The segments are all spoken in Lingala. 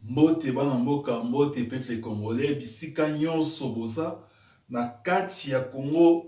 mbote bana mboka mbote peuple congolais bisika nyonso boza na kati ya congo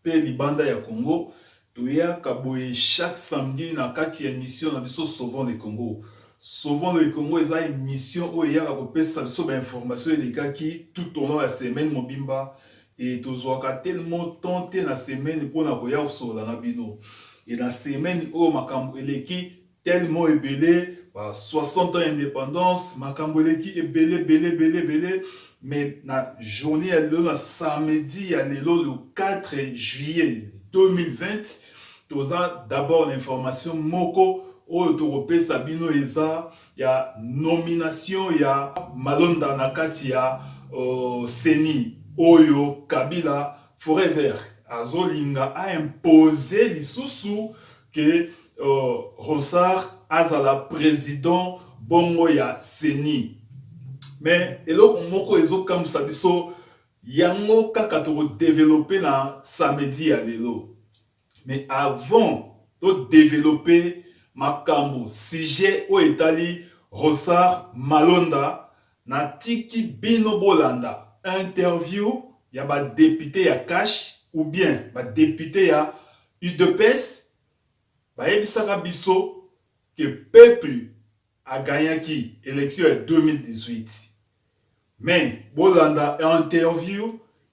mpe libanda ya congo toyaka boye chaque samedi na kati ya émission na biso sauvons le congo sauvons le congo eza émission oyo eyaka kopesa biso bainformation elekaki tout au long ya semaine mobimba Et tozuaka tellement temps te na semaine pona koya kosolola na bino. Et na semaine oyo makambo eleki tellement ebele, ba 60 ans ya independance, makambo eleki ebele ebele ebele ebele, mais na journee ya lelo, na samedi ya lelo le 4 juillet 2020, toza d'abord na information moko oyo tokopesa bino eza ya nomination ya malonda na kati ya uh, ceni oyo kabila forever azolinga a impose lisusu ke uh, ronsard azala president bongo ya ceni me eloko moko ezokamwisa biso yango kaka tokodevelope na samedi ya lelo Mais avant to developper makambu sujet oyo etali Rosar Malonda na tiki bino bolanda interview ya ba deputes ya CACH ou bien ba deputes ya udps bayebisaka biso que peuple a gagnaki election ya 2018 mais bolanda interview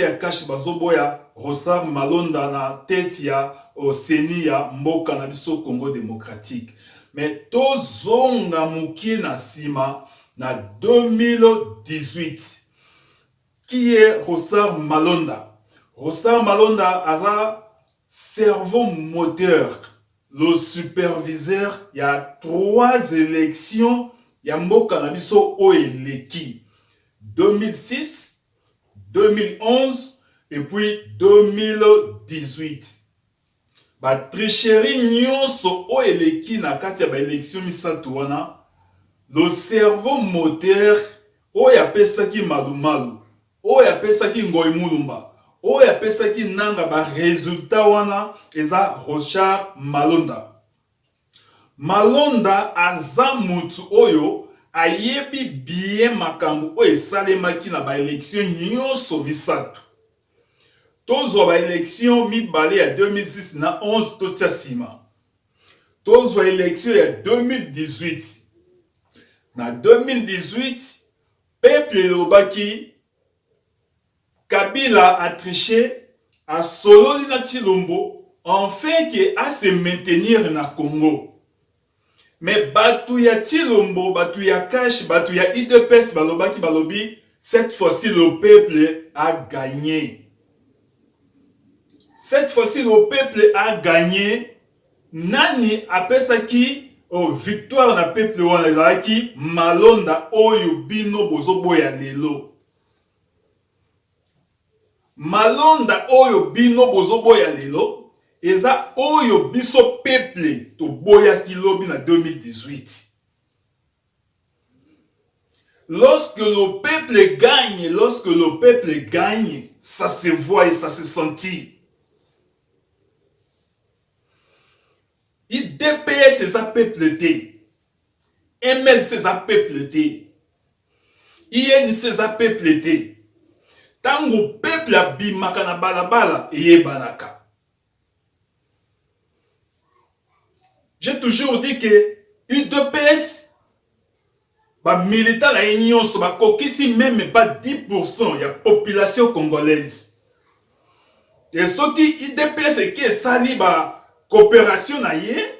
ya cash bazo boya Rosard Malonda na tete ya ceni ya mboka na biso Congo democratique mais to zonga mukie na sima na 2018 qui est Rosard Malonda Rosard Malonda aza cerveau moteur le superviseur ya trois elections ya mboka na biso oyo eleki 2006 2011 et puis 2018 ba tricherie nyonso oyo eleki na kati ya ba election misato wana le cerveau moteur oyo apesaki malumalu oyo apesaki ngoi mulumba oyo apesaki nanga ba resultat wana eza rochard malonda Malonda aza mutu oyo ayebi bien makambu oyo esalemaki na ba election nyoso misatu. Tozwa ba election mibale ya 2006 na 11 totia sima. Tozwa election ya 2018. Na 2018 peuple elobaki Kabila a triche, asololi na Tshilombo en fin que a se maintenir na Congo. Mais batu ya Tshilombo, batu ya Kash, batu ya udps balobaki balobi cette fois-ci le peuple a gagne. Cette fois-ci le peuple a gagne. Nani apesaki oh, victoire na peuple wana? Ezalaki malonda oyo bino bozoboya lelo, malonda oyo bino bozoboya lelo eza oyo biso peuple toboyaki lobi na 2018 Lorsque le peuple gagne, lorsque le peuple gagne, ça se voit et ça se sentit. IDPS eza peuple te. MLC eza peuple te. INC eza peuple te. Tango peuple abimaka na balabala eyebanaka. J'ai toujours dit que UDPS bamilita na ye nyonso bakokisi meme pa 10 ya population congolaise e soki idps eki esali bacoopération na ye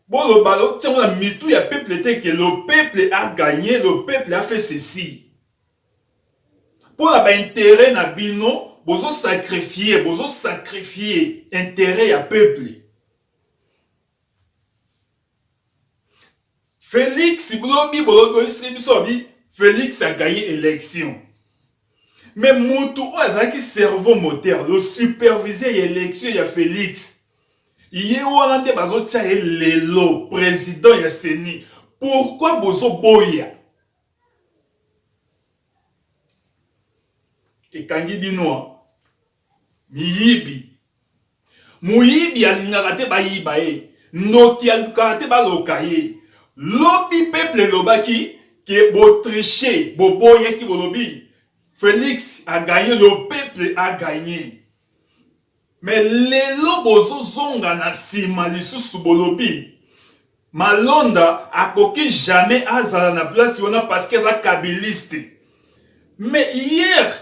boloba lotiango na mitu ya peuple te ke le peuple a gagné le peuple a fait ceci mpo na baintere na bino bozosakrifie bozosakrifie intere ya peuple Felix bolobi bolobi biso abi Felix agaye election mais mutu oyo azalaki cerveau moteur le superviseur ya election ya Felix ye wana nde bazotya ye lelo président ya CENI pourquoi bozoboya ekangi bino miyibi moyibi alingaka te bayiba ye ndoki alingaka te baloka ye lobi peuple elobaki ke botriche boboyaki bolobi felix aganye le peuple aganye Mais lelo bozo zonga na sima lisusu bolobi Malonda akoki jamais azala na place wana parce que aza kabiliste. Mais hier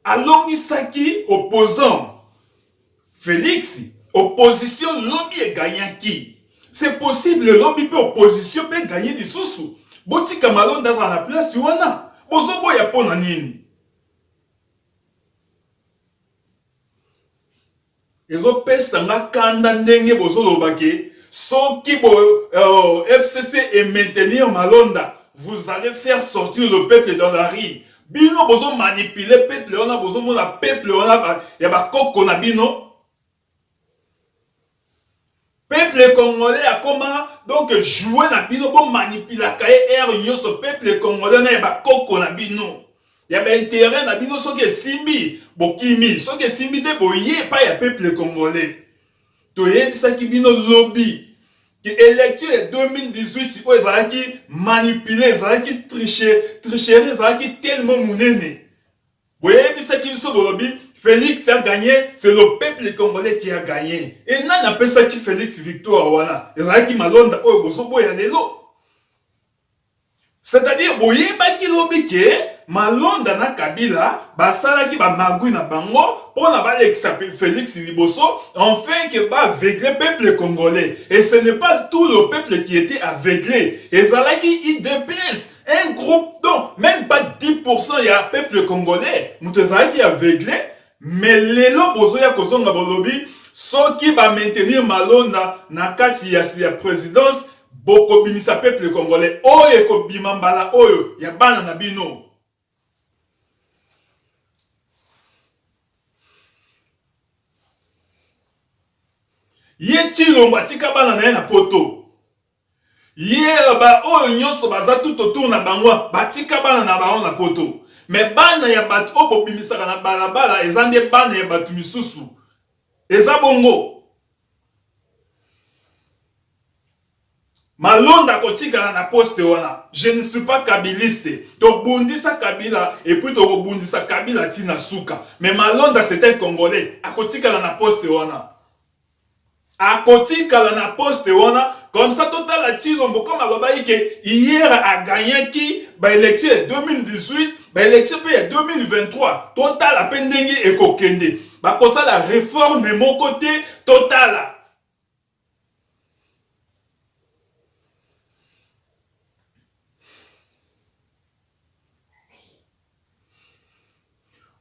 alongisaki opposant Felix, opposition lobi e gagnaki. C'est possible lobi pe opposition pe gagne lisusu. Botika Malonda azala na place wana. Bozo boya pona nini? ezopesa nga kanda ndenge bozoloba ke soki bo euh, fcc e maintenir malonda vous allez faire sortir le peuple dans la rue bino bozo manipuler peuple wana bozomona peuple wana ya bakoko na bino Peuple congolais akoma donc jouer na bino bo manipulaka ye heure nyonso peuple congolais na ya bakoko na bino ya bainterêt na bino soki esimbi bokimi soki esimbi te boye epai ya peuple congolais toyebisaki bino lobi ke élection ya 2018 oyo ezalaki manipule ezalaki triche tricherie ezalaki tellement monene Boyebisaki biso bolobi Felix a gagne, c'est le peuple congolais qui a gagne. Et nani apesaki Felix victoire wana? Ezalaki malonda oyo bozoboya lelo. C'est-à-dire boyebaki lobi ke malonda na Kabila basalaki ba magui na bango pona balekisa Felix liboso enfin que ba aveugle peuple congolais. Et ce n'est pas tout le peuple qui était aveuglé. Ezalaki IDPS un groupe donc même pas 10% ya peuple congolais moto ezalaki aveugle mais lelo bozoya kozonga bolobi soki ba maintenir malonda na kati ya, ya présidence bokobimisa peuple congolais oyo ekobima mbala oyo ya bana na bino ye tshilombo atika bana na ye na poto Hier ba oyo nyoso baza tout autour na bango batika bana na bango na poto mais bana ya batu oyo bobimisaka na balabala eza nde bana ya batu misusu eza bongo Malonda akotikala na poste wana je ne suis pas kabiliste tobundisa kabila et puis tokobundisa kabila ti na suka mais Malonda c'est un congolais akotikala na poste wana Akotikala na poste wana comme ça totala Tshilombo comme alobaki ke hier a gagnaki ba election ya 2018 ba election pe ya 2023 totala pe ndenge ekokende bakosala reforme moko te totala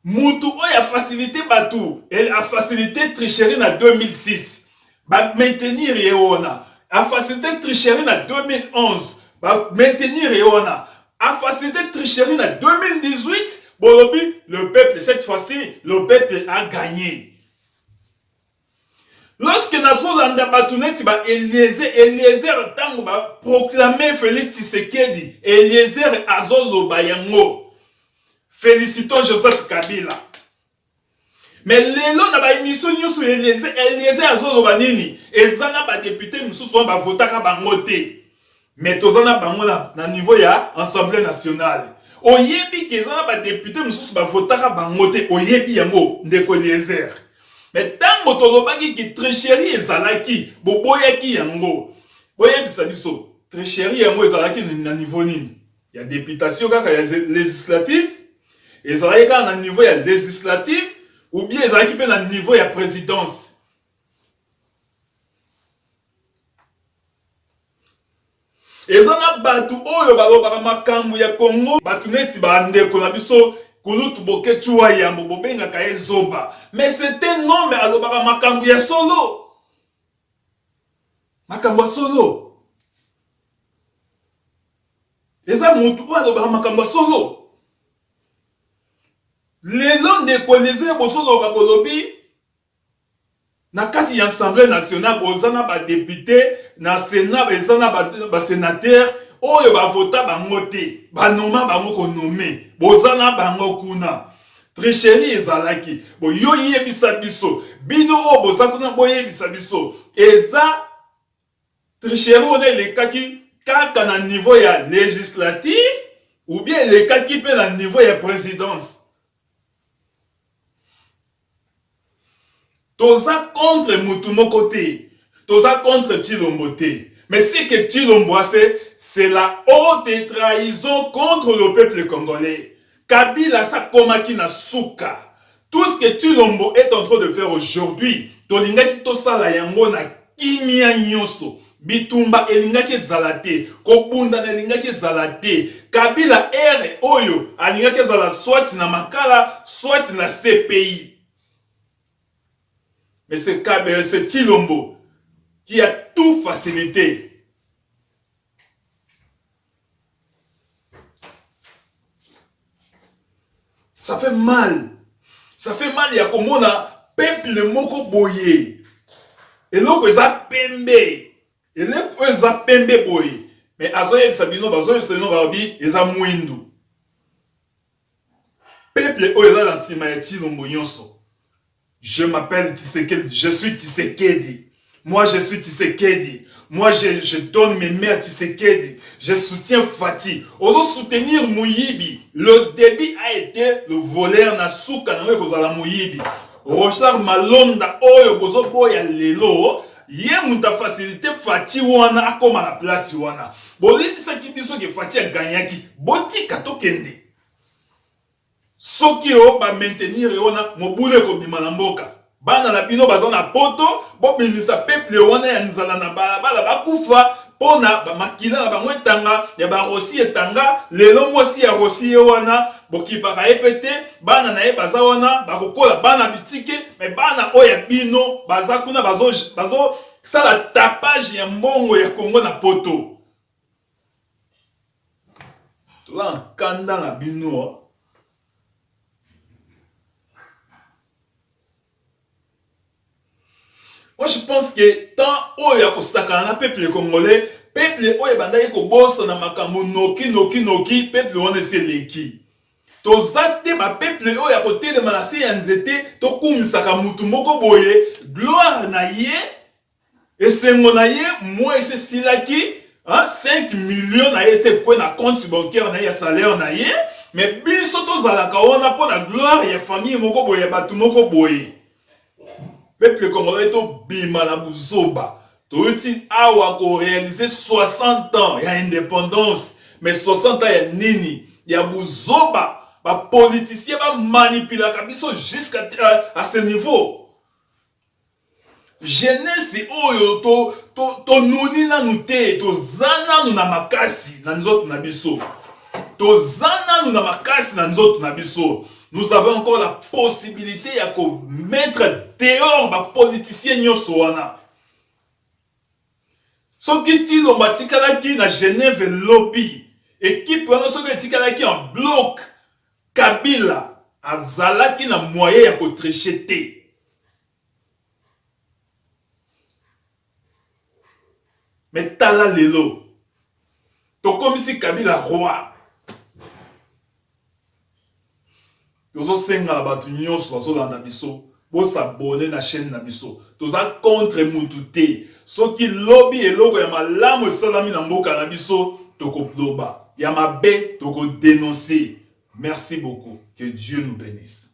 Mutu oyo a facilite batu, elle a facilite tricherie na 2006. Ba maintenir ye wana. A facilite tricherie na 2011. Ba maintenir ye wana. A facilite tricherie na 2018. Bolobi le peuple cette fois-ci le peuple a gagner. Lorsque nazolanda bato neti ba Eliezer, Eliezer ntango ba proclamer Felix Tshisekedi, Eliezer azoloba yango. Felicitons Joseph Kabila. Mais lelo na ba emission nyonso ya Eliezer, Eliezer azoloba nini? Eza na ba depute mosusu wana bavotaka bango te. mais toza na bango na, na niveau ya assemblée nationale oyebi ke eza na badepute mosusu bavotaka bango te oyebi yango ndeko eliezer me ntango tolobaki ke tricherie ezalaki boboyaki yango boyebisa biso tricherie yango ezalaki na niveau nini ya deputation kaka ya législatif ezalaki kaka na niveau ya législatif ou bien ezalaki mpe na niveau ya présidence eza na bato oyo balobaka makambo ya kongo bato neti bandeko na biso kulutu boketshuwa yambo bobengaka ye zoba mais sete nome alobaka makambo ya solo makambo ya solo eza motu oyo alobaka makambo ya solo lelo ndeko elize bozoloba bolobi Na kati ya Assemblee nationale boza na ba deputes, na Senat eza na ba senateurs oyo ba vota bango te, ba noma bango ko nomme, boza na bango kuna. Tricherie ezalaki. Bo yo yebisa biso, bino oyo boza kuna boyebisa biso eza Tricherie wana elekaki kaka na niveau ya legislatif ou bien elekaki mpe na niveau ya presidence toza contre mutu moko te toza contre tshilombo te mais ce que tshilombo a fait c'est la haute trahison contre le peuple congolais Kabila asi akomaki na suka. Tout ce que Tshilombo est en train de faire aujourd'hui, tolingaki tosala yango na kimia nyoso. Bitumba elingaki ezala te, kobundana elingaki ezala te. Kabila heure oyo alingaki azala soit na Makala, soit na CPI. Mais c'est Kabe, c'est Tshilombo qui a tout facilite. ça fait mal ça fait mal ya komona peuple moko boye eloko eza pembe eleko oyo eza pembe boye me azoyebisa bino bazoyebisa bino balobi eza mwindu peuple oyo eza na nsima ya tshilombo nyonso Je m'appelle Tshisekedi, je suis Tshisekedi. Moi, je suis Tshisekedi. Moi, je, je donne mes mains à Tshisekedi. Je soutiens Fatih. Ozo soutenir Mouyibi. Le début a été le voleur na souka na kozala Mouyibi. Rochard Malonda oyo bozo boya lelo ye moto afacilite fati wana akóma na place wana boyebisaki biso ke fati aganyaki botika tokende Soki o ba maintenir ye wana mobulu ekobima na mboka. Bana na bino baza na poto bobimisa peuple wana ya nzala na balabala bakufa pona ba makila na bango etanga ya ba Rossy etanga lelo mwasi ya Rossy ye wana bokipaka ye pe te bana na ye baza wana bakokola bana bitike mais bana oyo ya bino baza kuna bazo sala tapage ya mbongo ya Congo na poto. toza na kanda na bino Moi, je pense que tant oyo ya kosakana na peuple congolais, peuple oyo ebandaki kobosana makambo noki noki noki, peuple wana esi eleki. toza te bapeuple oyo ya kotelema na se ya nzete tokumisaka motu moko boye gloire na ye Esengo na ye mois esi esilaki, 5 millions na ye esi ekwe na compte bancaire na ye ya salaire na ye, mais biso tozalaka wana mpo na gloire ya famille moko boye ya bato moko boye. Peuple congolais tobima na buzoba. Toyuti awa ko realiser 60 ans ya independance mais 60 ans ya nini? Ya buzoba ba politiciens ba manipulaka biso jusqu'à euh, à ce niveau. Jeunesse oyo to to to nuni nanu te toza nanu na makasi na nzoto na biso toza nanu na makasi na nzoto na biso nous avons encore la possibilité ya ko mettre dehors ba politiciens nyonso wana soki tilombo atikalaki na genève lobi ekipe wana soki etikalaki en bloc kabila azalaki na moyen ya kotriche te me tala lelo tokomisi kabila roi tozosenga na bato nyonso bazolanda biso bosabone na chaîne na biso toza contre mutu te soki lobi eloko ya malamu esalami na mboka na biso tokoloba ya mabe tokodenonse merci beaucoup que dieu nous bénisse